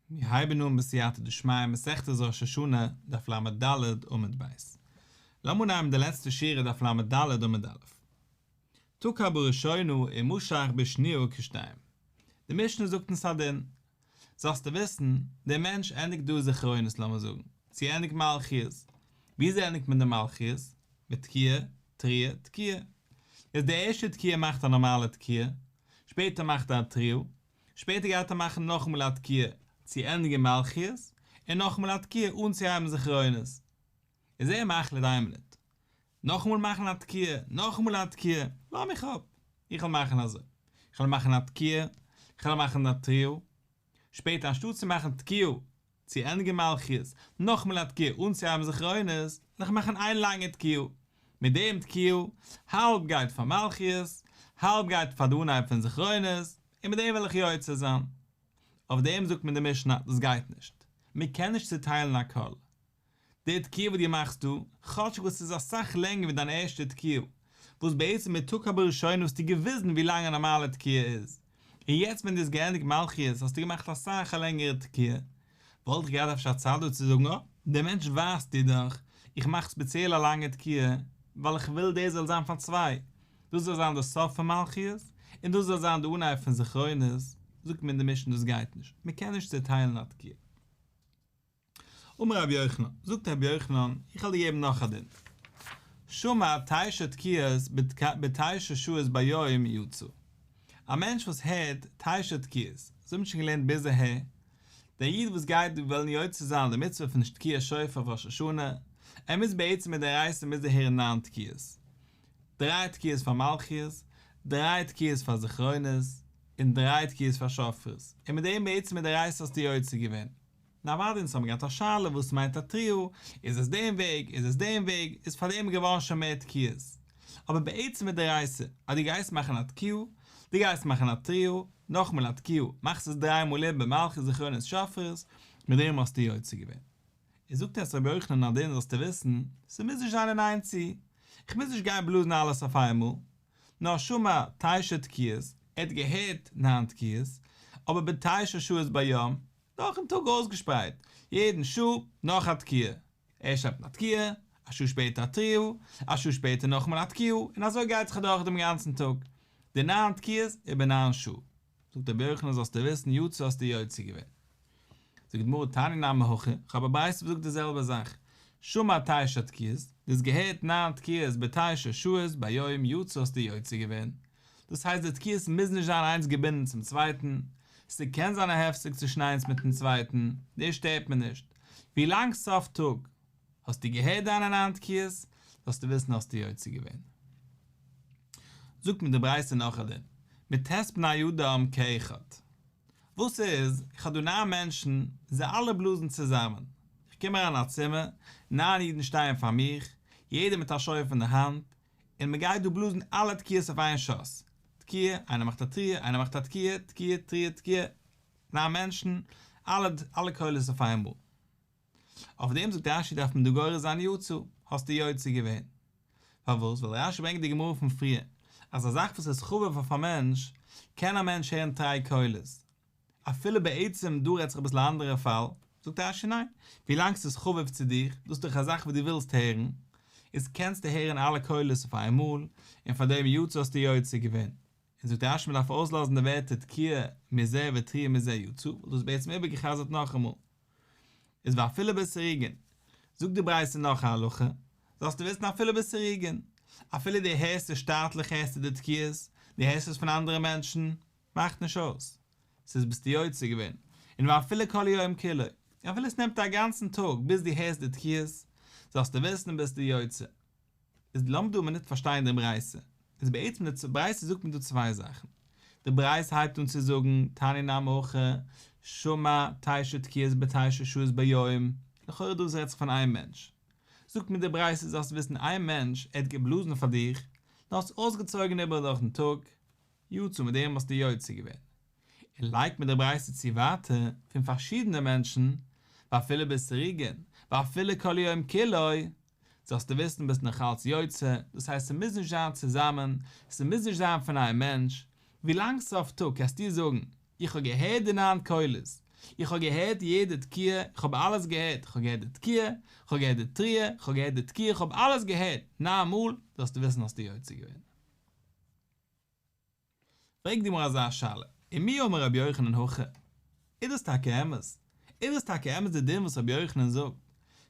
מיר הייבן אן בסייעתא דשמיא מסכת ראש השנה, דף לד עמוד ב'. לאמיר נעמען די לעצטע שורה דף לד עמוד א'. תוקע בראשינו ומשך בשניהו כשתיים. די משנה זאגט אונז א דין. זאלסטו וויסן, דער מענטש ענדיגט דא זכרונות לאמיר זאגן, צו ענדיגט מלכיות. וויאזוי ענדיגט מען די מלכיות? מיט תקיעה, תריעה, תקיעה. איז די ערשטע תקיעה מאכט א נארמאלע תקיעה, שפעטער מאכט ער א טריל, שפעטער גייט ער מאכן נאכאמאל א תקיעה צו ענדיגן מלכיות, און נאכאמאל א תקיעה אנצוהייבן זכרונות. איז ער מחליט איין מינוט, נאכאמאל מאכן א תקיעה, נאכאמאל א תקיעה, לאז מיך אפ, איך וועל מאכן אזוי, איך וועל מאכן א תקיעה, איך וועל מאכן א טריל, שפעטער אנשטאט צו מאכן תקיעה צו ענדיגן מלכיות נאכמעל א תקיעה אנצוהייבן זכרונות וועל איך מאכן איין לאנגע תקיעה מיט דעם תקיעה האלב גייט פאר מלכיות האלב גייט פאר די אנהייב פון זכרונות און מיט דעם וועל איך יוצא זיין אויף דעם זאגט מיר די משנה דאס גייט נישט מען קען נישט צוטיילן הכל. די תקיעה וואס דו מאכסט דא, כאטשיג וואס ס'איז אסאך לענגער ווי דיין ערשטע תקיעה, וואס בעצם מיט תקעה בראשונה האסטו געוויזן ווי לאנג א נארמאלע תקיעה איז, און יעצט ווען דו האסט געענדיגט מלכיות האסטו געמאכט אסאך א לענגערע תקיעה, וואלט איך געהאט אפשר צייט דא צו זאגן אה, דער מענטש ווייזט דיר דאך, איך מאך ספעציעל א לאנגע תקיעה, ווייל איך וויל דאס זאל זיין פאר צוויי, דאס זאל זיין די סוף פון מלכיות, און דאס זאל זיין די אנהייב פון זכרונות, זאגט מיר דער משנה דאס גייט נישט, מ'קען נישט צעטיילן א תקיעה. אמר רבי יוחנן, זאגט רבי יוחנן, איך וועל דיר געבן נאך א דין, שמע תשע תקיעות בתשע שעות ביום יצא, א מענטש וואס הערט תשע תקיעות, אזוי האט מען שוין געלערנט ביז אהער, דער איד וואס גייט וועלן יוצא זיין די מצוה פון תקיעת שופר אויף ראש השנה, ער מוז בעצם מדאורייתא מוז ער הערן נײַן תקיעות, דריי תקיעות פאר מלכיות, דריי תקיעות פאר זכרונות, און דריי תקיעות פאר שופרות, און מיט דעם בעצם מדאורייתא האסטו יוצא געווען. נעוואדע אונז האבן געהאט א שאלה וואס מיינט א טריאו, איז עס דעם וועג, איז עס דעם וועג, איז פאר דעם געווארן שוין מער תקיעות, אבער בעצם איז דערייסער אז דו גייסט מאכן א תקיעה, דו גייסט מאכן א טריאו, נאכמאל א תקיעה, מאכסט עס דריי מאל איבער מלכות זכרונות שופרות, מיט דעם האסטו יוצא געווען. איז זאגט עס רבי יוחנן נאדער זאלסטו וויסן, ס'מוז נישט זיין אין איין צו, איך מוז נישט גיין בלאזן אלעס אויף איינמאל, נאר שמע תשע תקיעות, ער האט געהערט נײַן תקיעות, אבער בתשע שעות ביום, נאכן טאג אויסגעשפרייט יעדן שעה נאך א תקיעה, ערשט שלעפט מען א תקיעה, א שעה שפעטער א תריעו, א שעה שפעטער נאכאמאל א תקיעו, און אזוי גייט זיך אדורך דעם גאנצן טאג, די ניין תקיעות איבער ניין שעה. זאגט רבי יוחנן זאלסטו וויסן יו ט האסטו יוצא געווען. זאגט גמרא תניא נמי הכי, איך האב א ברייתא וואס זאגט די זעלבע זאך, שמע תשע תקיעות, דו האסט געהערט ניין תקיעות ביי תשע שעות ביום יו ט האסטו יוצא געווען, דאס הייסט די תקיעות מוז נישט זיין איינס געבינדן צום צווייטן, ס'קען זיין א הפסק צווישן איינס מיטן צווייטן, דאס שטערט מיר נישט, ווילאנג סוף טאג האסטו געהערט דיינע ניין תקיעות, זאלסטו וויסן האסטו יוצא געווען. זאגט מיר די ברייתא נאך א דין, מטעסט בני אדם כאחד, וואס איז, איך האב דא ניין מענטשן, זיי אלע בלאזן צוזאמען, איך קום אריין אין א צימער, ניין אידן שטייען פאר מיך, יעדער מיט א שופר אין די האנט, און מען גייט דא בלאזן אלע תקיעות אויף איין שאס, תקיעה, איינער מאכט א טריע, איינער מאכט א תקיעה, תקיעה, טריע, תקיעה, ניין מענטשן, אלע אלע קולות אויף איינמאל. אויף דעם זאגט רשי דארף מען דא גורס זיין יצא, האסטו יוצא געווען. פארוואס? ווייל רשי ברענגט די גמרא פון פריער, אז א זאך וואס איז חביב אויף א מענטש, קען א מענטש הערן טריי קולות, אפילו בעצם דא רעדט זיך אביסל א אנדערע פאל, זאגט רש י ניין, ווילאנג ס'איז חביב צו דיר, דאס איז דאך א זאך וואס דו ווילסט הערן, איז קענסטו הערן אלע קולות אויף איין מאל, און פאר דעם יצא האסטו יוצא געווען. און זאגט רש י מ'דארף אויסלאזן די ווערטער תקיעה מזה ותריע מזה יצא, וואס דו האסט בעצם איבערגע'חזר'ט נאכאמאל. איז ואפילו בסירוגין. זאגט די ברייתא נאך א הלכה, זאלסטו וויסן אפילו בסירוגין, אפילו דו הערסט עס שטאטליך הערסטו די תקיעות, דו הערסט עס פון אנדערע מענטשן, מאכט נישט אויס. ס'איז ביסטו יוצא געווען. און ואפילו כל יום כולו. אפילו עס נעמט א גאנצן טאג ביז דו הערסט די תקיעות, זאלסטו וויסן ביסטו יוצא. איז לאמיר דא א מינוט פארשטיין די ברייתא. איז בעצם די ברייתא זאגט מיר דא צוויי זאכן. די ברייתא הייבט אן צו זאגן, תני נא מוכ ח, שמע תשע תקיעות בתשע שעות ביום, לכאורה דא רעדט זיך פון איין מענטש. זאגט מיר די ברייתא זאלסטו וויסן איין מענטש ער האט געבלאזן פאר דיך, דו האסט אויסגעצויגן איבער דורכן טאג, יצא מיט דעם האסטו יוצא געווען. און לייגט מען די ברייתא צו ווייטער פון פארשידענע מענטשן, ואפילו בסריגין, ואפילו כל יום כולו, זאלסטו וויסן ביסט נאכאלץ יוצא, דאס הייסט ס'מוז נישט זיין צוזאמען, ס'מוז נישט זיין פון איין מענטש, ווילאנג ס'איז אויף טאג קענסטו זאגן, איך האב געהערט די נײַן קולות, איך האב געהערט יעדע תקיעה, איך האב אלעס געהערט, איך האב געהערט די תקיעה, איך האב געהערט די תריעה, איך האב געהערט די תקיעה, איך האב אלעס געהערט, נײַן מאל, זאלסטו וויסן האסטו יוצא געווען. פרעגט די גמרא אזא שאלה, ומי אמר רבי יוחנן הכא? איז דאס טאקע אמת? איז דאס טאקע אמת די דין וואס רבי יוחנן זאגט?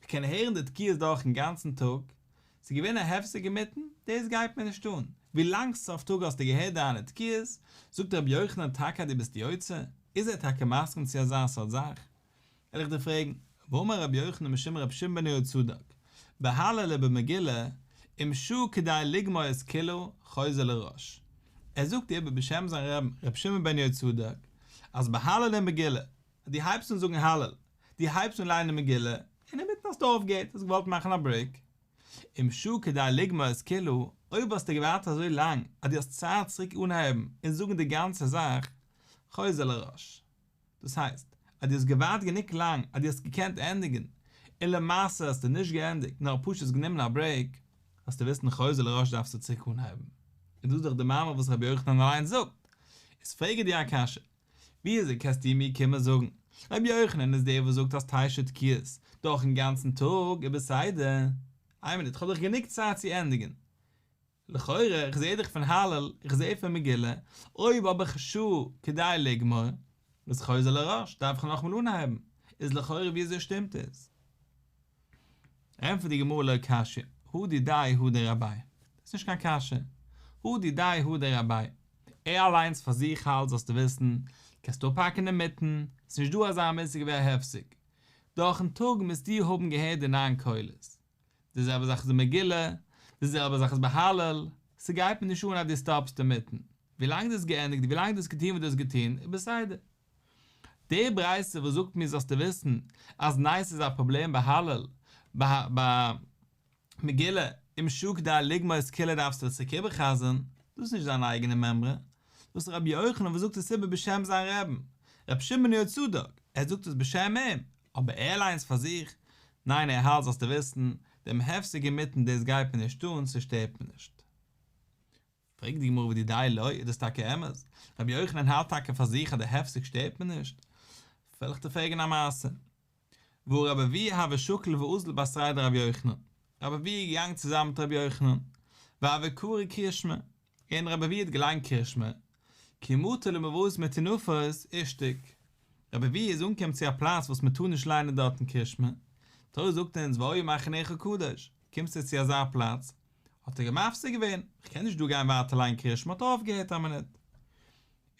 כ'קען הערן די תקיעות דורכ'ן גאנצן טאג, ס'איז געווען א הפסק אינמיטן, דאס גייט מיר נישט אן, ווילאנג סוף טאג האסטו געהערט דיינע תקיעות, זאגט רבי יוחנן טאקע אז דו ביסט יוצא? איז ער טאקע מסכים צו אזא סארט זאך? וויל איך דיר פרעגן, ואמר רבי יוחנן בשם רבי שמעון בן יהוצדק, בהלה ל במגילה, אם שו כדאי לגמור איז כולו חוזר לראש. ער זאגט איבער בשם זיין רבין רבי שמעון בן יהוצדק, אז בהלה ל מגילה, אז דו הייבסט אן זאגן הלל, דו הייבסט אן ליינען מגילה, אינמיטן האסטו אויפגעהערט, האסט געוואלט מאכן א ברעיק. אם שו כדאי לגמור איז כולו, אויב האסטו געווארט אזוי לאנג אז דו האסט צייט צוריק אנהייבן און זאגן די גאנצע זאך, חוזר לראש. דאס הייסט אז דו האסט געווארט גענוג לאנג אז דו האסט געקענט ענדיגן, און למעשה האסטו נישט געענדיגט נאר פשוט גענומען א ברעיק, האסטו וויסן חוזר לראש דארפסטו צוריק אנהייבן, איז דאס דאך די מאמר וואס רבי יוחנן אליינס זאגט, איז פרעג איך דיר א קשיא, וויאזוי קענסטו מיר קומען זאגן רבי יוחנן איז דער וואס זאגט אז תשע תקיעות דורכן גאנצן טאג איז בסדר, איין מינוט כ'האב דאך גענוג צייט צו ענדיגן, לכאורה, איך זעה דאך פון הלל, איך זעה פון מגילה, אויב האב איך א שעה כדי לגמור, וואס איך חוזר לראש, דארף איך נאכאמאל אנהייבן, איז לכאורה ווי אזוי שטימט עס? ענטפערט די גמרא לא קשיא, הוא דידאי הוא דרביי, דאס איז נישט קיין קשיא, הוא דידאי הוא דרביי, ער אליינס פאר זיך האלט זאלסטו וויסן, קענסטו אפהאקן אינמיטן, ס'נישט דא אזא מושג ווי א הפסק, דורכ'ן טאג מוזטו האבן געהערט די ניין קולות. די זעלבע זאך איז אין מגילה, די זעלבע זאך איז בהלל, ס'גייט מיר נישט אן אז דו סטאפסט אינמיטן, ווילאנג דו האסט געענדיגט, ווילאנג דו האסט געטון וואס דו האסט געטון, איז בסדר. די ברייתא וואס זאגט מיר זאלסטו וויסן אז נייעס איז א פראבלעם בהלל, ביי מגילה, ומשא כ דיין לגמר'ס קילע דארפסטו צוריק איבער'חזר'ן, דאס איז נישט זיין אייגענע מימרא, דאס איז רבי יוחנן וואס זאגט עס איבער בשם זיין רעבן, רבי שמעון יהוצדק, ער זאגט עס בשם אים, אבער ער אליינס פאר זיך? ניין ער האלט זאלסטו וויסן, דעם הפסק אינמיטן דאס גייט מיר נישט אן, ס'שטערט מיר נישט. פרעגט די גמרא ודידי לוי, איז דאס טאקע אמת? רבי יוחנן האלט טאקע פאר זיך אז די הפסק שטערט מיר נישט? וועל איך דיר פרעגן א מעשה. וואו רבי אבי ה ושוקל ואוזל באסראי דרבי יוחנן. רבי אבי ה איז געגאנגען צוזאמען מיט רבי יוחנן. ואבי קרי קרי שמו. און רבי אביעד גליין קירשמער, כמותו למבוז מטינופות, איז שטיק. רבי אביעד איז אנגעקומען צו א פלאץ וואס מען טאר נישט ליינען דארט אין קירשמער. תורה זאגט אונז והיו מחניך קדוש, קומסטו צו אזא פלאץ? האט ער גער מפסיק געווען, איך קען נישט דא גיין ווייטער ליינען קירשמער האט ער אויפגעהערט א מינוט.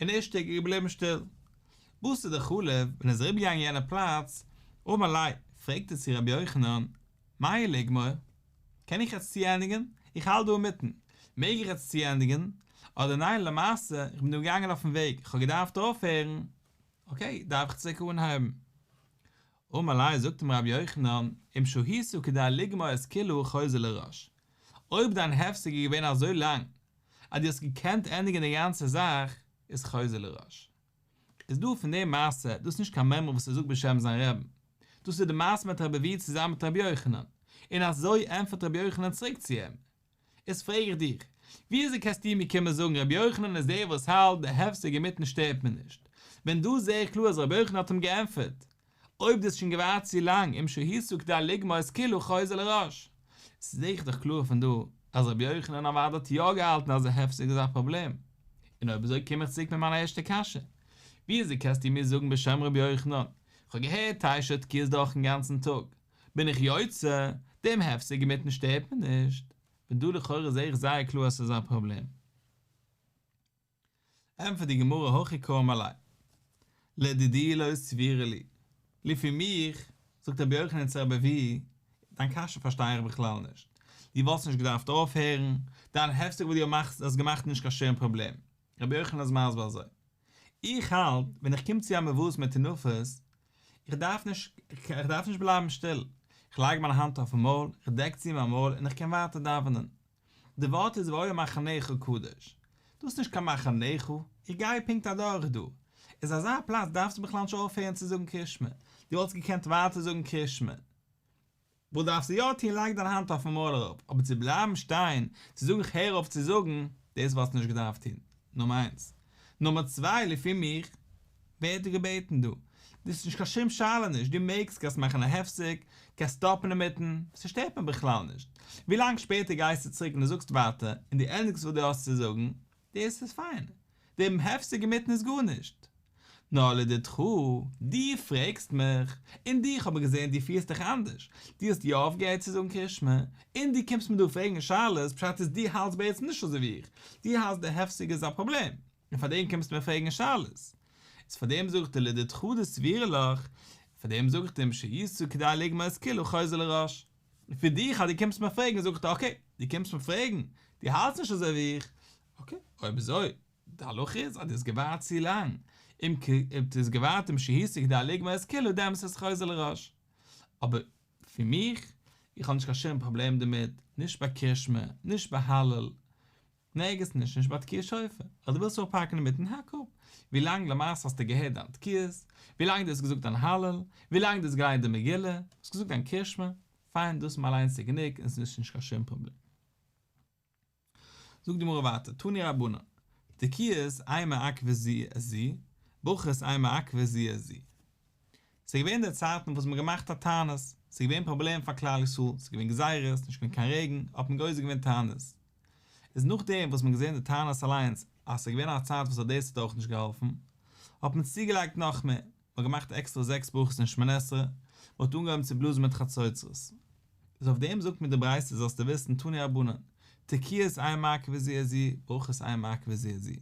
און איז שטיק געבליבן שטיל. וואס איז די חלב? ווען ער איז אריבערגעגאנגען יענע פלאץ, אויבן אליין, פרעגט ער צו רבי יוחנן, מאי לגמור? קען איך יעצט צוענדיגן? איך האלט דא אינמיטן. מעג איך יעצט צוענדיגן? אדער ניין למעשה איך בין דא געגאנגען אויפן וועג איך האב געדארפט אויפהערן אקעי דארף איך צוריק אנהייבן. אמר לי זאגט אים רבי יוחנן אם שהית כדי לגמור אז כולו חוזר לראש אויב דיין הפסק איז געווען אזוי לאנג אז דו האסט געקענט ענדיגן די גאנצע זאך איז חוזר לראש. איז דא פון דעם מעשה, דאס איז נישט קיין מאמר וואס ער זאגט בשם זיין רעבען, דאס איז די מעשה מיט רבי ווי צוזאמען מיט רבי יוחנן, און אזוי ענטפערט רבי יוחנן צוריק צו אים, איז פרעג איך דיך, ווי אזוי קענסטו מיר קומען זאגן רבי יוחנן איז דער וואס האלט די הפסק אינמיטן שטערט מיר נישט, ווען דא זעה איך קלאר אז רבי יוחנן האט אים געענטפערט, אויב דו האסט שוין געווארט צו לאנג אם שהי' סוכתא לגמור איז כאילו חוזר לראש. ס'זעך איך דאך קלאר פון דא אז רבי יוחנן אבד האט יא געהאלטן אז די הפסק איז א פראבלעם. און אויב אזוי קום איך צוריק מיט מיין ערשטע קשיא. וויאזוי קענסטו מיר זאגן בשם רבי יוחנן, כ'האב געהערט תשע תקיעות דורכן גאנצן טאג, בין איך יוצא, דעם הפסק אינמיטן שטערט מיר נישט. פון דא לכאורה זעה איך זייער קלאר אז ס'איז א פראבלעם. ענטפערט די גמרא הכי קרום עלי. לדידי לא סבירה לי. לפי מיך, זאגט רבי יוחנן צו רבי אביהי, דיין קשיא פארשטיי איך בכלל נישט. דו וואלסט נישט געדארפט אויפהערן, דיין הפסק וואס דו מאכסט האסט געמאכט נישט קיין שום פראבלעם. רבי יוחנן איז מסביר אזוי. איך האלט ווען איך קום צו א מבואות מטונפות, איך דארף נישט איך דארף נישט בלייבן שטיל. איך לייג מיין האנט אויפן מויל, איך דעק צו מיין מויל און איך קען ווייטער דאווענען. די ווארט איז והיה מחניך קדוש, דאס איז נישט קיין מחניך, איך גיי פונקט אדורך דא, איז אזא פלאץ דארפסטו בכלל נישט אויפהערן צו זאגן קרית שמע, דו וואלסט געקענט ווייטער זאגן קרית שמע. וואס דארפסטו יא טון לייג דיין האנט אויפן מויל אראפ, אבער צו בלייבן שטיין צו זאגן איך הער אויף צו זאגן, דאס וואלסטו נישט געדארפט טון, נאר מיינס. נומער צוויי לפי מיך ווערט דא געבעטן דא, דאס איז נישט קיין שום שאלה נישט, דו מעגסט, קענסט מאכן א הפסק, קענסט סטאפן אינמיטן, ס'שטערט מיר בכלל נישט, ווי לאנג שפעטער גייסטו צוריק און דו זאגסט ווייטער און דו ענדיגסט וואס דו האסט צו זאגן, דאס איז פיין, געבן הפסק אינמיטן איז גארנישט, נא לדידך, דו פרעגסט מיך, און דיך האב איך געזען דו פירסט דיך אנדערש, דו האסט יא אויפגעהערט צו זאגן קרישמע, און דו קומסט מיר דא פרעגן שאלות, פשט איז דו האלטסט בעצם נישט אזוי ווי איך, דו האלטסט די הפסק איז א פראבלעם, און פארדעם קומסטו מיר פרעגן שאלות. איז פארדעם זאג איך דיר לדידך די סברה לך, פארדעם זאג איך דיר משא יצא כדי לגמור אז כאילו חוזר לראש. פון דיך אז דו קומסט מיר פרעגן זאג איך דיר אקעי, דו קומסט מיר פרעגן, דו האלטסט נישט אזוי ווי איך, אקעי, אויב אזוי, די הלכה איז אז דו האסט געווארט צו לאנג, אם כ אויב דו האסט געווארט אום שהיסח כדי א לגמר אז כולו דעמאלטס איז עס חוזר לראש. אבער פון מיך, איך האב נישט קיין שום פראבלעם דערמיט, נישט ביי קרישמע, נישט ביי הלל, נערגעץ נישט, נישט ביי תקיעת שופר, אז דו ווילסט אפהאקן אינמיטן האק אפ, ווילאנג למעשה האסטו געהערט דיין תקיעות, ווילאנג דו האסט געזאגט דיין הלל, ווילאנג דו האסט געליינט די מגילה, האסט געזאגט דיין קרישמע, פיין דאס אליינס איז גענוג און עס איז נישט קיין שום פראבלעם. זאגט די גמרא ווייטער, תני רבנן, תקיעות אי מעכבי זיע את זיע, ברכות אי מעכבי זיע את זיע. ס'איז געווען די צייטן וואס מ'האט געמאכט א תענית, ס'איז געווען פראבלעם פאר כלל ישראל, ס'איז געווען גזירות, נישט געווען קיין רעגן, האט מען גוזר געווען תענית. איז נאכדעם וואס מ'האט געזען די תענית אליינס אז ס'איז געווען א צייט וואס האט דאס האט אויך נישט געהאלפן, האט מען צוגעלייגט נאכמער. מ'האט געמאכט עקסטער זעקס ברכות אין שמונה עשרה, מ'האט אנגעהויבן צו בלאזן מיט חצוצרות. איז אויף דעם זאגט מיר די ברייתא זאלסטו וויסן תנו רבנן, תקיעות עיין מעכבי זי ע זי, ברכות עיין מעכבי זי ע זי.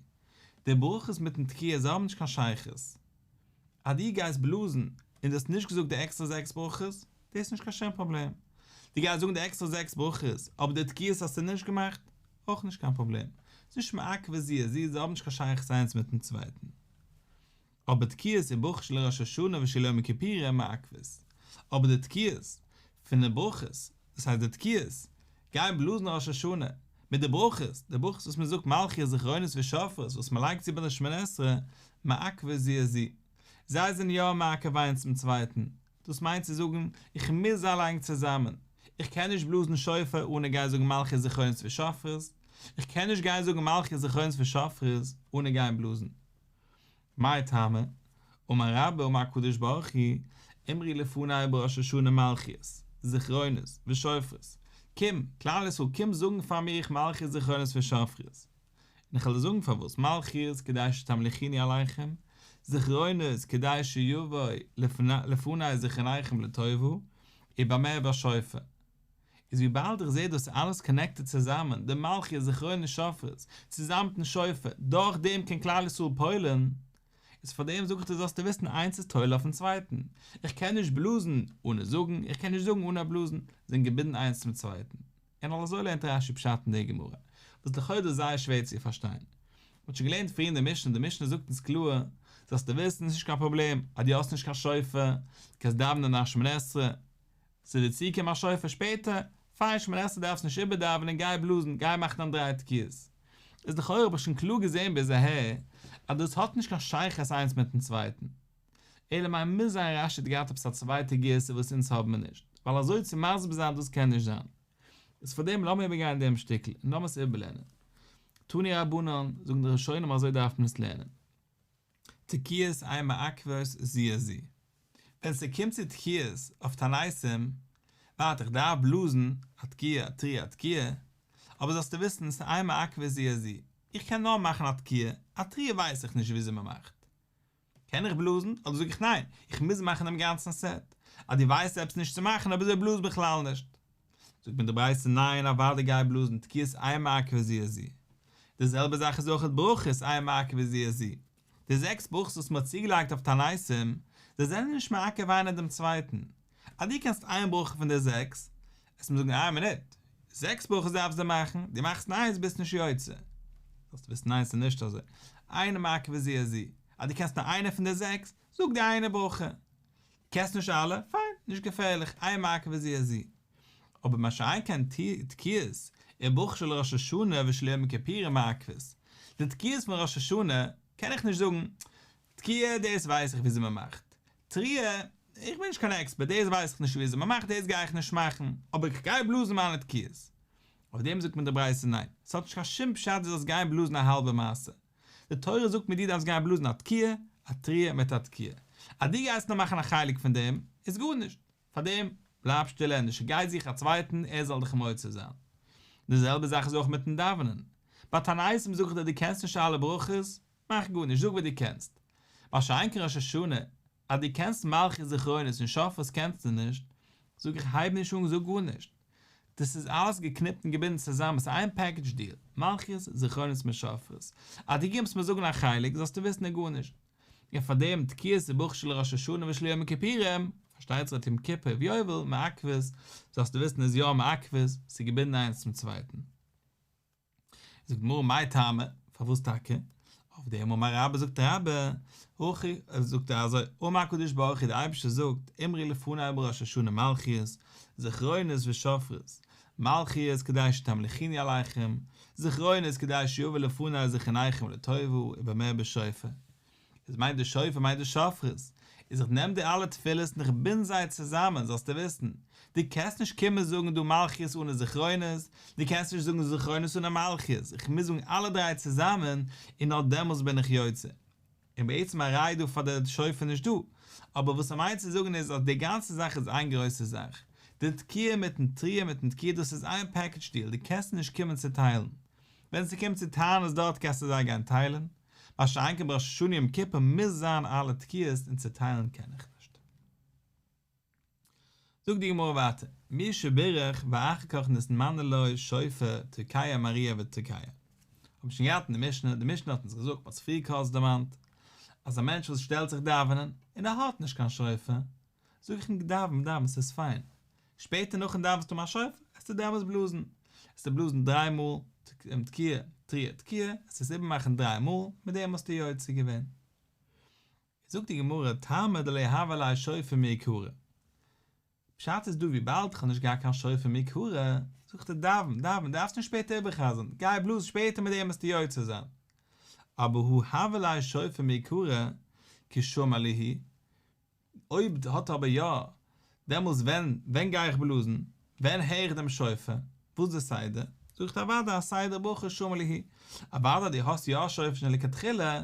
די ברכות מיטן תקיעה זיי האבן נישט קיין שייכות. אז דו גייסט בלאזן און דו האסט נישט געזאגט די עקסטער זעקס ברכות, דאס איז נישט קיין שום פראבלעם. דו גייסט זאגן די עקסטער זעקס ברכות אבער די תקיעות האסטו נישט געמאכט, אויך נישט קיין פראבלעם. ס'איז נישט מעכבי זי ע זי, זיי האבן נישט קיין שייכות איינס מיטן צווייטן. אבער תקיעות און ברכות של ראש השנה ושל יום הכיפורים איז מעכבות. אבער די תקיעות פון די ברכות, דאס הייסט די תקיעות, גייען בלאזן ראש השנה, מיט די ברכות, די ברכות וואס מען זאגט מלכיות זכרונות ושופרות וואס מען לייגט צו ביי די שמונה עשרה, מעכבות זי את זי. זיי זענען יא מעכב איינס דעם צווייטן. דאס מיינט צו זאגן, איך מוז זיי לייגן צוזאמען. איך קען נישט בלאזן שופר אן איך גיי זאגן מלכיות זכרונות ושופרות. איך קען נישט גיין זאגן מלכיות זכרונות ושופרות אן איך גיי בלאזן. מאי טעמא, אמר רבא אמר הקדוש ברוך הוא, אמרי לפני בראש השנה מלכיות, זכרונות, ושופרות, קום, כלל ישראל קום זאגן פאר מיר איך מלכיות זכרונות ושופרות. און איך וועל דיר זאגן פארוואס, מלכיות כדי שתמליכיני עליכם, זכרונות כדי שיבוא לפני זכרוניכם לטובה, ובמה ובשופר. איז וויבאלד איך זעה דאס אלעס קאנעקטעד צוזאמען, די מלכי זכרונות שופרות, צוזאמען מיטן שופר, דורך דעם קען כלל ישראל פועל'ן, איז פארדעם זאג איך דיר זאלסטו וויסן איינס איז תולה אויפן צווייטן, איך קען נישט בלאזן אנע זאגן, איך קען נישט זאגן אנע בלאזן, זענען געבינדן איינס צום צווייטן. און על אזוי לערנט רש י פשט אין די גמרא, וואס לכאורה איז זייער שווער צו פארשטיין. מען האט שוין געלערנט פריער אין די משנה, די משנה זאגט אונז קלאר, זאלסטו וויסן, עס איז נישט קיין פראבלעם אז דו האסט נישט קיין שופר, דו קענסט דאווענען נאך שמונה עשרה, ס'איז דיר צוגעקומען א שופר שפעטער? פיין שמעלעסטע דארפסט נישט איבערדאווענען גיי בלאזן גיי מאכן דיין דריי תקיעות. איז לכאורה האב איך שוין קלאר געזעהן ביז אהער אז דאס האט נישט קיין שייכות איינס מיטן צווייטן. אלא מאי מוז זיין רש י האט געהאט עפעס א צווייטע גרסה וואס אונז האבמער נישט, ווייל אזוי צו מסביר זיין דאס קען נישט זיין. איז פארדעם לאמיר איבערגיין דעם שטיקל און לאמיר עס איבערלערנען. תני רבנן, זאגן די ראשונים אזוי דארף מען עס לערנען. תקיעות עין מעכבות זיע זיע. ווען ס'קומט צו תקיעות אויף תנאיסים, ווארט איך דארף בלאזן א תקיעה א תרי א תקיעה, אבער זאלסטו וויסן ס'עין מעכבות זיע זיע, איך קען נאר מאכן א תקיעה, א תרי א ווייס איך נישט וויאזוי מ'מאכט. קען איך בלאזן? אדער זאג איך ניין, איך מוז מאכן דעם גאנצן סעט. אז דו ווייסט עפעס נישט צו מאכן אביזוי בלאז בכלל נישט. זאגט מיר די ברייתא ניין אוואדי גיי בלאזן תקיעות איין מעקב וזי ע זי די זעלבע זאך איז אויכעט ברכות איין מעקב וזי ע זי די זעקס ברכות וואס מען האט צוגעלייגט אויף תעניתים זיי זענען נישט מעכב איינער דעם צווייטן אז דו קענסט איין ברכה פון די זעקס עס מיר זאגן איין מינוט זעקס ברכות דארפסט דו מאכן דו מאכסט איינס ביסט נישט יוצא זאלסט וויסן איינס איז נישט אזוי איין מעקב וזי ע זי אז דו קענסט נאר איינע פון די זעקס זאג די איינע ברכה קענסט נישט אלע? פיין, נישט געפערליך, איין מכה וזה אזי. אבער מה שאין כן תקיעות און ברכה של ראש השנה ושל יום הכיפורים מעכבות. די תקיעות פון ראש השנה קען איך נישט זאגן, תקיעה דאס ווייס איך וויאזוי מען מאכט. תריעה, איך בין נישט קיין עקספערט, דאס ווייס איך נישט וויאזוי מען מאכט, דאס גיי איך נישט מאכן, אבער איך גיי בלאזן מיינע תקיעות. אויף דעם זאגט מיר די ברייתא ניין, ס'האט נישט קיין שום פשט דו זאלסט גיין בלאזן א האלבע מעשה. די תורה זאגט מיט דו דארפסט גיין בלאזן א תקיעה, א תריעה מיט א תקיעה. אז דו גייסט נאר מאכן א חלק פון דעם, איז גארנישט. פאר דעם, בלייב שטיל ענדערש גיי זוך א צווייטן ער זאל דיך מוציא זיין. די זעלבע זאך איז אויך מיטן דאווענען. ביי תענית זאגט ער דו קענסט נישט אלע ברכות, מאך גארנישט, זאג וואס דו קענסט. ביי שייענקען ראש השנה, אז דו קענסט מלכי זכרונות און שפרות קענסטו נישט, זאג איך הייב נישט אן זאג גארנישט, דאס איז אלעס געקניפט און געבינדן צוזאם, עס איז איין פעקעדזש דיעל, מלכי זכרונות מיט שפרות, אז דו קומסט מיר זאגן א חלק זאלסטו וויסן און גארנישט, און פאר דעם תקיעת סבוך של ראש השנה ושל יום הכיפורים, פארשטייט זיך יום כיפור ויובל מעכבות, זאלסטו וויסן איז יא מעכבות, ס'איז געבינדן איינס צום צווייטן. זאגט די גמרא מאי טעמא, פארוואס טאקע? אויף דעם אמר רבא זאגט רבא, הכי, זאגט ער אזוי, אמר הקדוש ברוך הוא דער אייבערשטער זאגט, אמרי לפני בראש השנה מלכיות, זכרונות ושופרות, מלכיות כדי שתמליכיני עליכם, זכרונות כדי שיבוא לפני זכרוניכם לטובה ובמה בשופר, איז מיינט די שופר מיינט די שופרות, איז איך נעם די אלע תפילות און איך בינד זיי צוזאמען, זאלסטו וויסן, דו קענסט נישט קומען זאגן דא מלכיות אנע זכרונות, דו קענסט נישט זאגן זכרונות אנע מלכיות, איך מוז זאגן אלע דריי צוזאמען, און נאר דעמאלס בין איך יוצא. און בעצם א ראי' דא פאר די שופר נישט דא, אבער וואס ער מיינט צו זאגן איז אז די גאנצע זאך איז איין גרויסע זאך, די תקיעה מיטן תריעה מיטן תקיעה דאס איז איין פעקעדזש דיעל, דו קענסט עס נישט קומען צוטיילן. ווען ס'קומט צו טיילן איז דארט קענסטו זיי גיין טיילן, מה שאין כן בראש השנה יום כיפור מוז זיין אלע תקיעות און צוטיילן קען איך נישט. זאגט די גמרא ווייטער, מי שברך ואחר כך נתמנה לו שופר תוקעיה מריה ותוקעיה. האבן שוין געהאט אין די משנה, די משנה האט אונז געזאגט, מ'האט עס פריער קורץ דערמאנט, אז א מענטש וואס שטעלט זיך דאווענען, און ער האט נישט קיין שופר, זאג איך ניק דאווען דאווען ס'איז פיין, שפעטער נאכן דאווען זאגסטו מיין שופר זאגסטו דאווענסט בלאזן, זאלסטו בלאזן דריי מאל תקיעה תריה תקיעה, זאלסט עס איבערמאכן דריי מאל, מיט דעם האסטו יוצא געווען. זאגט די גמרא, טעמא דלא הוה ליה שופר מעיקרא, פשט איז דא וויבאלד איך האב נישט געהאט קיין שופר מעיקרא, זאגט ער דאווען דאווען דארפסט נישט שפעטער איבערחזר'ן, גיי בלאז שפעטער מיט דעם וועסטו יוצא זיין. אבער הוא הוה ליה שופר מעיקרא, כי שומע ליהי, אויב האט ער אבער יא, דעמאלס ווען ווען גיי איך בלאזן? ווען הער איך דעם שופר? וואס די סדר? זאגט ער אוודאי א סדר ברוך שמו לעי', אוודאי דו האסט יא א שופר שוין לכתחילה,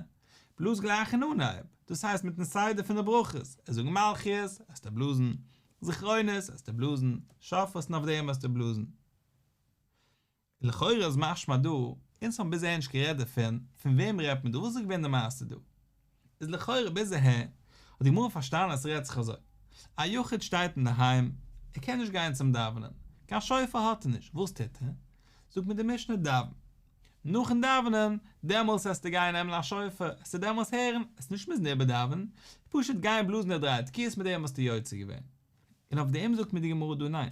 בלאז גלייך אין אנהייב, דאס הייסט מיטן סדר פון די ברכות, ער זאגט מלכיות, העסטו בלאזן, זכרונות, העסטו בלאזן, שופרות און אויף דעם העסטו בלאזן. לכאורה איז משמע דא, אונז האבן ביז אהער נישט גערעדט דערפון, פון וועם רעדט מען דא, וואס איז געווען די מעשה דא? איז לכאורה ביז אהער האט די גמרא פארשטאנען אז ס'רעדט זיך אזוי, א יחיד שטייט אינדערהיים, ער קען נישט גיין צום דאווענען, קיין שופר האט ער נישט, וואס טוט ער? זאגט מיר די משנה דאווען, נאכן דאווענען, דעמאלס העסטו גיין נעמען א שופר, העסטו דעמאלס הערן, העסט נישט מוזן איבערדאווענען, פשוט גיין בלאזן די דריי תקיעות מיט דעם האסטו יוצא געווען. און אויף דעם זאגט מיר די גמרא דא ניין.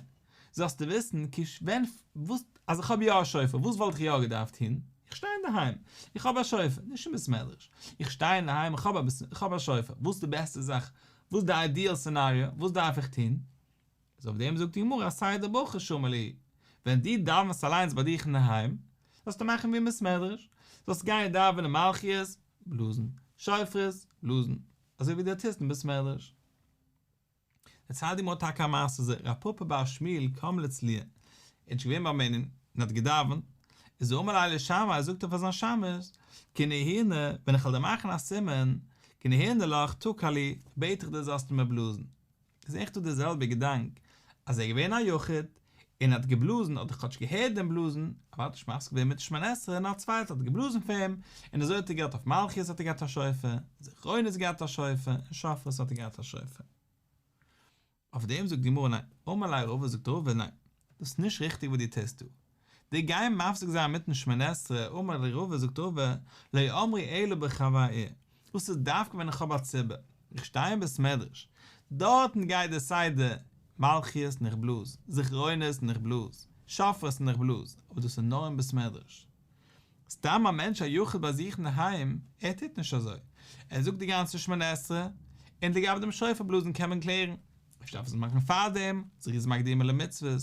זאלסטו וויסן כש ווען וואס אז איך האב יא א שופר וואס וואלט איך יא געדארפט טון? איך שטיי אינדערהיים איך האב א שופר נישט אין בית מדרש איך שטיי אינדערהיים איך האב איך האב א שופר וואס איז די בעסטע זאך וואס די איידיעל סינעריאו וואס דארף איך טון? איז אויף דעם זאגט די גמרא א סדר ברכה שמע לי ווען דו דאווענסט אליינס ביי דיך אינדערהיים זאלסטו מאכן ווי אין בית מדרש זאלסט גיין דאווענען מלכיות בלאזן שופרות בלאזן אזוי ווי דו טוסט אין בית מדרש. דער צדיק האט טאקע א מעשה ז ל, א פאפא ביי א שמיל קאם לצ ל, ער איז נישט געווען ביים מנין און האט געדאווענט, איז ער אמר לילי שמאי, זאגט ער פאר זיין שמש, כנהנה, ווען איך וועל דיר מאכן א סימן, כנהנה לך, תקע לי, בעט איך דיר זאלסטו מיר בלאזן. איז עכט דא דער זעלבער געדאנק, אז ער איז געווען א יחיד, און ער האט געבלאזן, האט ער כאטש געהערט דעם בלאזן, אבער האט נישט מפסיק געווען מיט שמונה עשרה, נאר א צווייטער האט געבלאזן פאר אים, און אזוי האט ער געהאט אויף מלכות האט ער געהאט א שופר, און זכרונות געהאט א שופר, און שופרות האט ער געהאט א שופר. אויף דעם זאגט די גמרא ניין, אמר ליה רבא זאגט רבא ניין, דאס איז נישט ריכטיג וואס דו טוסט דא, דיר גיין מפסיק זיין מיטן שמונה עשרה, אמר ליה רבא זאגט רבא, לא אמרי אלא בחוה ר, דאס איז דווקא ווען איך האב א ציבור, איך שטיי אין בית מדרש, דארטן גייט דער סדר מלכיות און איך בלאז, זכרונות און איך בלאז, שופרות און איך בלאז, אבער דאס איז נאר אין בית מדרש. סתם א מענטש א יחיד ביי זיך אינדערהיים, ער טוט נישט אזוי, ער זאגט די גאנצע שמונה עשרה, און לגבי דעם שופר בלאזן קען מען קלערן, אפשר דארף ער עס מאכן פארדעם, זריז מקדימה למצוות,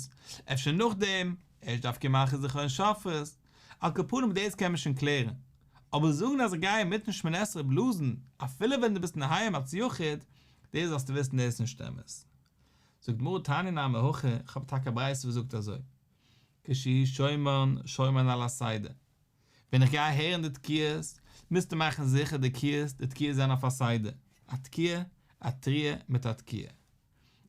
אפשר נאכדעם, ערשט דארף געמאכט זכרון שופרות. על כפנים דאס קען מען שוין קלערן, אבער זאגן אז איך גיי אינמיטן שמונה עשרה בלאזן אפילו ווען דו ביסט נהיים אלס יחיד, דאס זאלסטו וויסן דאס איז נישט אמת. זאגט גמרא תעני נא מהכי, איך האב טאקע א ברייתא וואס זאגט אזוי, כשיהי שומען שומען על הסדר, ווען איך גיי הערן די תקיעות מוזטו מאכן זיכער די תקיעות די תקיעות זענען אויף א סדר, א תקיעה, א תריעה מיט א תקיעה.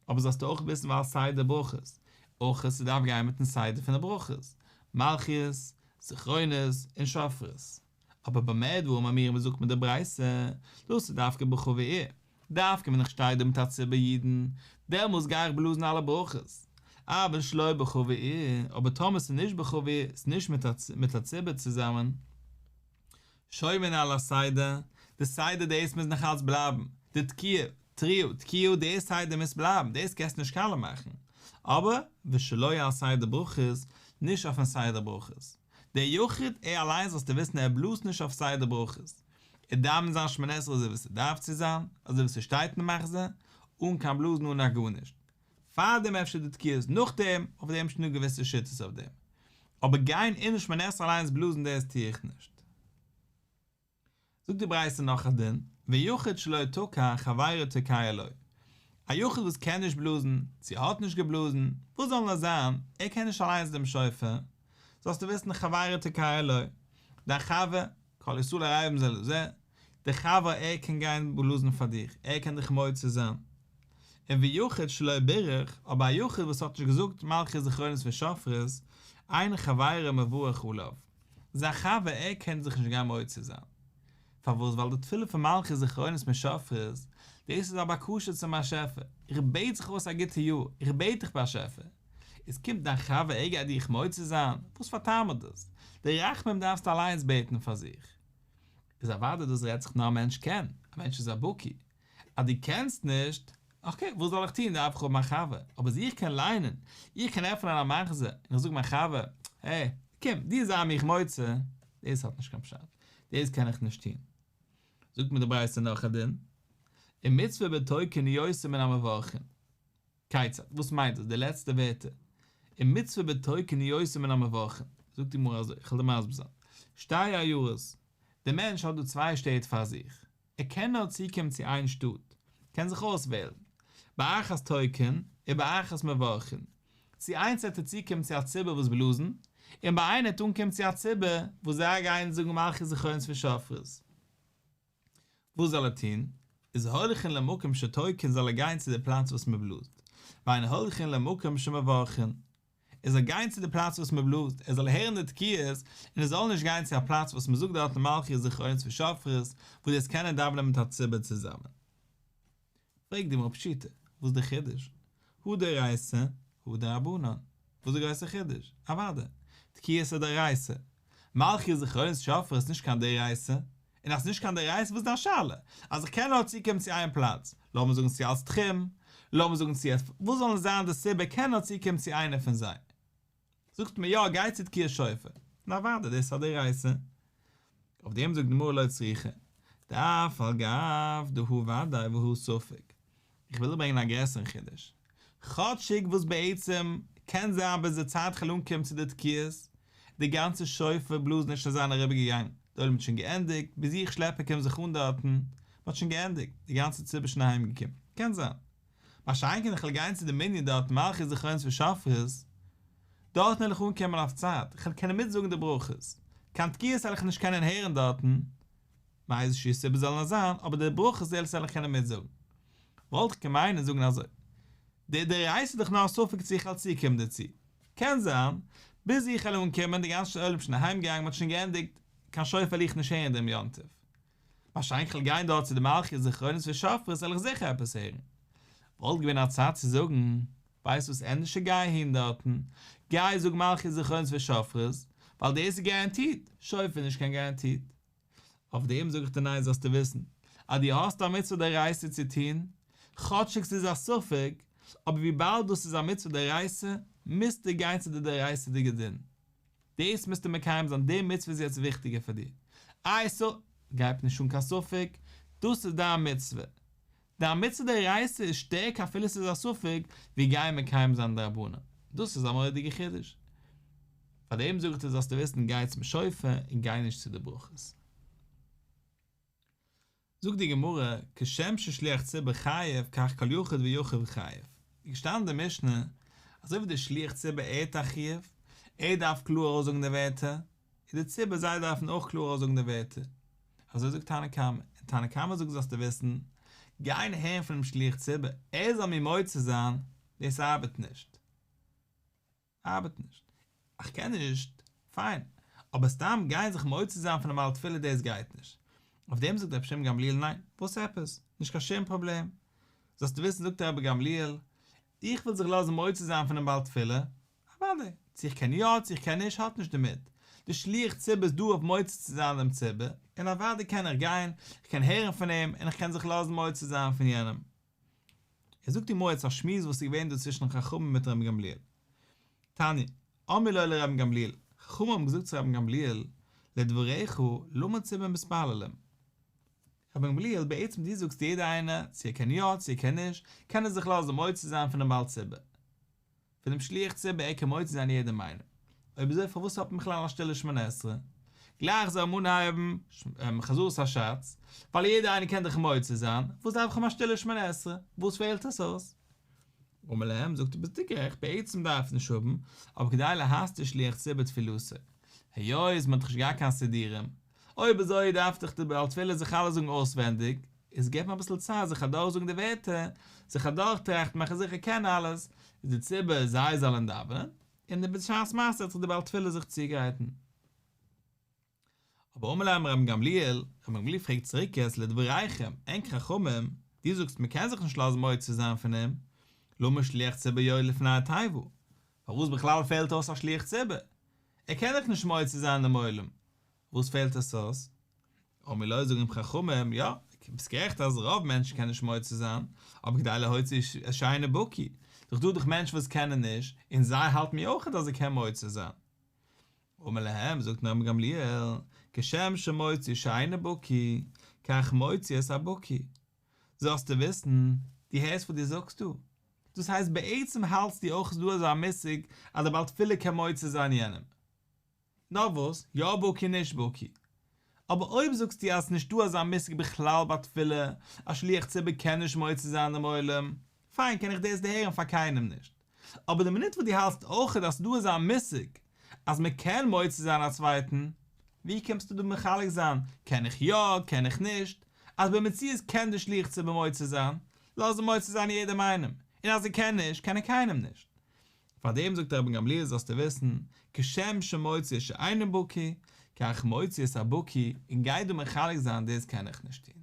אבער זאלסטו אויך וויסן ווייל סדר ברכות אויך איז ס'דארף גיין מיטן סדר פון די ברכות, מלכיות, זכרונות, און שופרות, אבער ביי מאת ואור מאמיר ווי זאגט מען די ברייתא, דאס איז דווקא בכה ועיר, דווקא ווען איך שטיי דא מיט א ציבור אידן, דעמאלס גיי איך בלאזן אלע ברכות, אבל שלא בכה ועיר, אבער טאמער ס'איז נישט בכה ועיר, ס'איז נישט מיט א ציבור צוזאמען, שומרים על הסדר, די סדר דאס מוז נאך אלץ בלייבן, די תקיעה, תריעו, תקיעו די סדר מוז בלייבן, דאס קענסטו נישט קאלעם מאכן, אבער ושלא על סדר ברכות, נישט אויפן סדר ברכות, דער יחיד ער אליין זאלסטו וויסן ער בלאזט נישט אויף סדר ברכות, ער דאווענט זיין שמונה עשרה אזוי ווי ס'דארף צו זיין, אזוי ווי ס'שטייט אין מחזה, אן קיין בלאזן אן א גארנישט. פארדעם אפשר די תקיעות נאכדעם, אויף דעם שטן דא געוויסע שיטות אויף דעם, אבער גיין און שמנעסר אליינס בלאזן דאס טוה איך נישט. זאגט די ברייתא נאך א דין, ויחיד שלא תוקע חברו תוקע לו, א יחיד וואס קען נישט בלאזן, צו האט נישט געבלאזן, וואס זאל נאר זיין, ער קען נישט אליינס דעם שופר, זאלסטו וויסן חברו תוקע לו, דיין חבר, כל ישראל ערבים זה לזה, דער חבר ער קען גיין בלאזן פאר דיר, ער קען דיך מוציא זיין. און ויחיד שלא בירך, אבער א יחיד וואס האט נישט געזאגט מלכי זכרונות ושופרות, אין חברים מברך עליו, זיין חבר ער קען זיך נישט גיין מוציא זיין. פארוואס? ווייל די תפילה פון מלכי זכרונות משופרות, דאס איז א בקשה צום באשעפער, איך בעט זיך אויס א גוטע יאר, איך בעט דיך באשעפער, איז קומט דיין חבר עגער דיך מוציא זיין, וואס פאר טעם האט דאס? די רחמים דארפסטו אליינס בעטן פאר זיך. איז אוודאי דאס רעדט זיך נאר א מענטש קען, א מענטש איז א בקי. אז דו קענסט נישט, אקעי, וואס זאל איך טון, דארף איך האבן א חבר. אבער אז איך קען ליינען, איך קען עפענען א מחזור, און איך זאג מיין חבר, העי, קום, דו זיי מיך מוציא, דאס האט נישט קיין פשט, דאס קען איך נישט טון. זאגט מיר די ברייתא נאך א דין, אין מצוה בתוה קנאי עושה מן המברכים, כיצד? וואס מיינט דאס די לעצטע ווערטער? אין מצוה בתו כ ניועסים מן המברכין, זאגט די גמרא אזוי, איך וועל דיר מסביר זיין, שתי עיירות, דער מענטש האט דא צוויי שטעט פאר זיך, ער קען נאר צוקומען צו איין שטאט, ער קען זיך אויסוועלן, באחת תוקין ובאחת מברכין, צו איינס וועט ער צוקומען צו א ציבור וואס בלאזן, און ביי איינער וועט ער אנקומען צו א ציבור וואס זיי גייען זאגן מלכי זכרונות פון שופרות. וואס זאל ער טון? איז הולכין למקום שתוקין זאל ער גיין צו די פלאץ וואס מען בלאזט, ואין הולכין למקום שמברכין ער זאל גיין צו די פלאץ וואס מען בלאזט, ער זאל הערן די תקיעות, און ער זאל נישט גיין צו א פלאץ וואס מען זאגט דארטן מלכיות זכרונות ושופרות, וואו דאס קענען דאווענען מיט א ציבור צוזאמען. פרעגט די מרפ שיטה, וואס די חידוש? הוא דאורייתא, הוא דרבנן. וואס די גרויסע חידוש? אוודאי, תקיעות איז דאורייתא. מלכיות זכרונות שופר איז נישט קיין דאורייתא. און אז ס'נישט קיין דאורייתא וואס איז דיין שאלה? אז איך קען נאר צוקומען צו איין פלאץ, לאמיר זאגן צו אלץ תחום, לאמיר זאגן צו עס, וואס זאל זיין די סיבה, איך קען נאר צוקומען צו איינע פון זיי. זאגט מען יא גיי צו תקיעת שופר, און אוודאי דאס איז א דאורייתא, אויף דעם זאגט די גמרא לא צריכה, דאף על גב דה הוא ודאי והוא ספק, איך וויל דא ברענגען א גרעסערן חידוש, כאטשיג וואס בעצם קען זיין ביז די צייט כ'וועל אנקומען צו די תקיעות, די גאנצע שופר בלאזן איז שוין זיין אריבער געגאנגען, די עולם האט שוין געענדיגט, ביז איך שלעפער קום זיך אן דארטן, מ'האט שוין געענדיגט, די גאנצע ציבור איז שוין אהיימגעקומען, קען זיין, מה שאין כן איך וויל גיין צו די מנין דארט מלכי זכרונות ושופרות, דארטן וועל איך אנקומען אויף צייט, איך וועל קענען מיטזאגן די ברכות, קיין תקיעות וועל איך נישט קענען הערן דארטן, מאיזה שהיא סיבה זאלן עס זיין, אבער די ברכות זעלבסט וועל איך קענען מיטזאגן. וואלט איך געמיינען זאגן אזוי, די די רייסט דאך נאר א ספק צו איך וועל צוקומען דערצו, קען זיין, ביז איך וועל אנקומען די גאנצע עולם שוין אהיימגעגאנגען מען האט שוין געענדיגט, קיין שופר וועל איך נישט הערן דעם יום טוב. באשיינט כ'על גיין דארט צו די מלכי זכרונות ושופרות וועל איך זיכער עפעס הערן. וואלט געווען א צייט צו זאגן, ווייסט וואס ענדערשער גיי אהין דארטן, גיי זאג מלכי זכרונות ושופרות, ווייל דאס איז גאראנטירט, שופר איז נישט קיין גאראנטירט. אויף דעם זאג איך דיר ניין זאלסטו וויסן אז דו האסט א מצוה דאורייתא צו טון, כאטשיג ס'איז א ספק, אבער וויבאלד דאס איז א מצוה דאורייתא, מוזטו גיין צו די דאורייתא'דיגע דין. דאס מוזטו מקיים זיין, די מצוה איז יעצט וויכטיגער פאר דיר. איי סא, גייב נישט אן קיין ספק, דאס איז דיין מצוה. דיין מצוה דאורייתא איז שטערקער אפילו ס'איז א ספק, ווי גייען מקיים זיין דרבנן. דאס איז א מורא'דיגע חידוש. פאר דעם זאג איך דיר זאלסטו וויסן גיי צום שופר און גיי נישט צו די ברכות. זאגט די גמרא, כשם ששליח ציבור חייב כך כל יחיד ויחיד חייב, איז געשטאנען אין די משנה, אזוי ווי דער שליח ציבור ער האט א חיוב, ער דארף קלאר אויסזאגן די ווערטער, איז די ציבור זיי דארפן אויך קלאר אויסזאגן די ווערטער. אזוי זאגט תנא קמא, און תנא קמא זאגט זאלסטו וויסן, גיין הערן פונעם שליח ציבור ער זאל מיר מוציא זיין, דאס ארבעט נישט. ארבעט נישט. איך קען נישט. פיין. אבער סתם גיין זיך מוציא זיין פון א בעל תפילה דאס גייט נישט. אויף דעם זאגט רבי שמעון גמליאל ניין. וואס עפעס? נישט קיין שום פראבלעם. זאלסטו וויסן זאגט רבי גמליאל, איך וויל זיך לאזן מוציא זיין פונעם בעל תפילה, אוודאי, צו איך קען יא צו איך קען נישט האט נישט דערמיט. דער שליח ציבור איז דא אויף מוציא צו זיין דעם ציבור, און אוודאי קען איך גיין, איך קען הערן פון אים, און איך קען זיך לאזן מוציא זיין פון יענעם. ער זאגט אין מועצת א שמועס וואס איז געווען דא צווישן חכמים מיט רבי גמליאל. תניא, אמר לו לרבי גמליאל, חכמים האבן געזאגט צו רבי גמליאל, לדבריך, למה צבא מתפללים? רבי גמליאל, בעצם דו זאגסט יעדער איינער, צו ער קען יא, צו ער קען נישט, קען ער זיך לאזן מוציא זיין פונעם בעל צבא. פון דעם שליח ציבור ער קען מוציא זיין יעדע מילה. אויב אזוי פארוואס האט מען בכלל א שטילע שמונה עשרה? גלייך זאל מען אנהייבן חזרת השץ, ווייל יעדער איינער קען דאך מוציא זיין, וואס דארף איך אים א שטילע שמונה עשרה? וואס פעלט עס אויס? אמר להם, זאגט ער ביסטו גערעכט, בעצם דארף עס נישט האבן, אבער כדי להסתיר שליח ציבור תפילתו, היות מען האט דאך נישט געהאט קיין סידורים, אויב אזוי דארף דיך די בעל תפילה זיך אלעס זאגן אויסווענדיג, איז געב מיר אביסל צייט זיך אדורכזאגן די ווערטער, זיך אדורכטראכטן, מאכן זיכער איך קען אלעס, איז די ציבור זיי זאלן דאווענען, און די בשעת מעשה האט זיך די בעל תפילה זיך צוגעהייטן. אבער אמר להם רבן גמליאל, רבן גמליאל פרעגט צוריק יעצט לדבריכם, ענק חכמים, דו זאגסט מען קען זיך נישט לאזן מוציא זיין פון אים, למה שליח ציבור יואל לפני התיבה, פארוואס בכלל פעלט אויס א שליח ציבור? ער קען דאך נישט מוציא זיין דעם עולם, וואס פעלט עס אויס? אמר לו, זאגן אים חכמים, יא, ביסט גערעכט אז רוב מענטשן קענען נישט מוציא זיין, אבער כדי להוציא איש את שיינע בקי, דאך דא דאך מענטשן וואס קענען נישט, און זיי האלטן מיר אויך אז ער קען מוציא זיין. אמר להם, זאגט אים רבן גמליאל, כשם שמוציא שיינע בקי, כך מוציא את הבקי. זאלסטו וויסן, דו הערסט וואס דו זאגסט דא? דאס הייסט בעצם האלטסטו אויך איז דא אזא מושג אז דער בעל תפילה קען מוציא זיין יענעם. נאר וואס, יא בקי נישט בקי. אבער אויב זאגסטו אז ס'נישט דא אזא מושג בכלל ביי תפילה, אז שליח ציבור קען נישט מוציא זיין דעם עולם, פיין קען איך דאס דערהערן פאר קיינעם נישט. אבער די מינוט וואס דו האלטסט אויכעט אז דא איז א מושג אז מען קען מוציא זיין א צווייטן, ווי קומסטו דא מחלק זיין קען איך יא קען איך נישט, אז במציאות קען די שליח ציבור מוציא זיין, לאז אים מוציא זיין יעדעם איינעם, און אז ער קען נישט קען ער קיינעם נישט. פארדעם זאגט רבן גמליאל זאלסטו וויסן, כשם שמוציא את שאינו בקי, כך מוציא את הבקי, און גיי דא מחלק זיין דאס קען איך נישט טון.